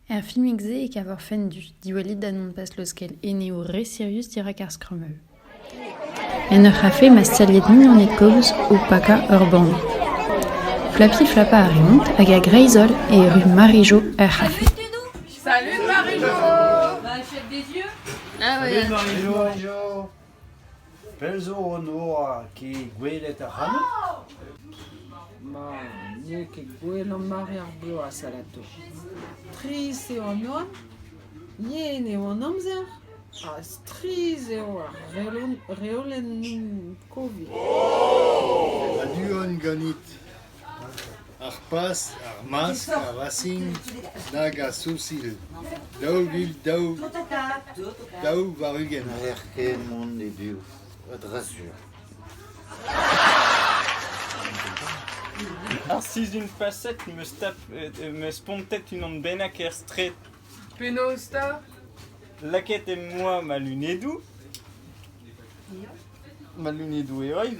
Er filmig-se e kaver fent diwallit da nonpas leuskel eneoù re sirius dirak ar skrumell. En ur c'hafe ma staliet mignoned kozh o pakañ ur bann. Plafi flapañ a reont hag a-greiz-holl e erru Marie-Jo er c'hafe. Salut Marie-Jo! Salut Marie-Jo! Pell zo hon oa ket gwelet ac'hanout ? Ma, n'eo ket gwell an mare ar bloaz alato. Strizh eo an oan, yen eo an amzer ha strizh eo ar reolennoù Covid. A du on ganit. Ar Pas, ar Mask, ar Racing nag ar Sousil daou vil daou daou warn-ugent. N'haller ket mont e-biou, a dra sur. Ar sizhun-faset 'm eus tap- em eus spontet unan bennak er straed. Penaos 'ta? Lakaet em boa ma lunedoù. Ma lunedoù heol.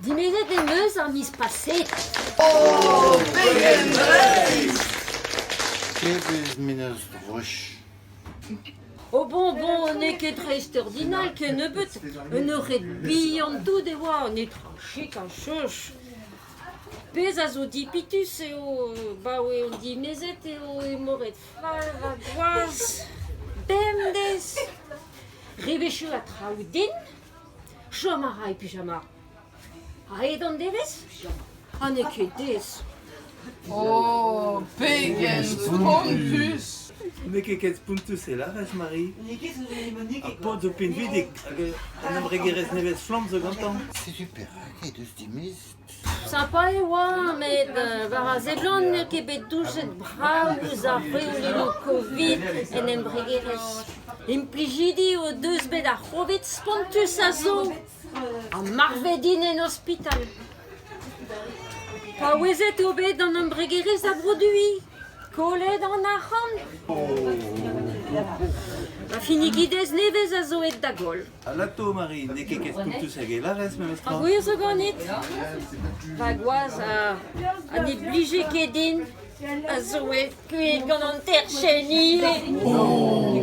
Dimezet em eus ar miz paseet. Kevez menaj droch. O bon, bon, n'eo ket dreist-ordinal kennebeut. Un eured bihan tout e oa, netra chik ha choch. Pezh a zo dipitus eo, baoe on dimezet, eo emoret fall ha gwaz. Bemdez. Rebechu ha traoù din. Chom a ray pijama. A-hed an devezh ha n'eo ket aes. Oh, pegen spontus! N'eo ket ket spontus e lârez, Mari. Ha paotr zo pinvidik hag un embregerezh nevez-flamm zo gantañ. Setu perak he deus dimezet. Sapa e oa met war a seblant n'eo ket bet doujet brav ouzh ar reolennoù Covid en embregerezh. Implijidi o deus bet ar C'hovid spontus a zo ha marvet int en ospital. Paouezet eo bet an embregerezh da broduiñ, kollet an arc'hant. Ha finigidez nevez a zo aet da goll. Alato, Mari, n'eo ket ket poutus hag e larez memestra. Ha gwir zo ganit Va gwaz a, ha ne blije ket din a zoe kuit gant an terchenn ivez. Oh!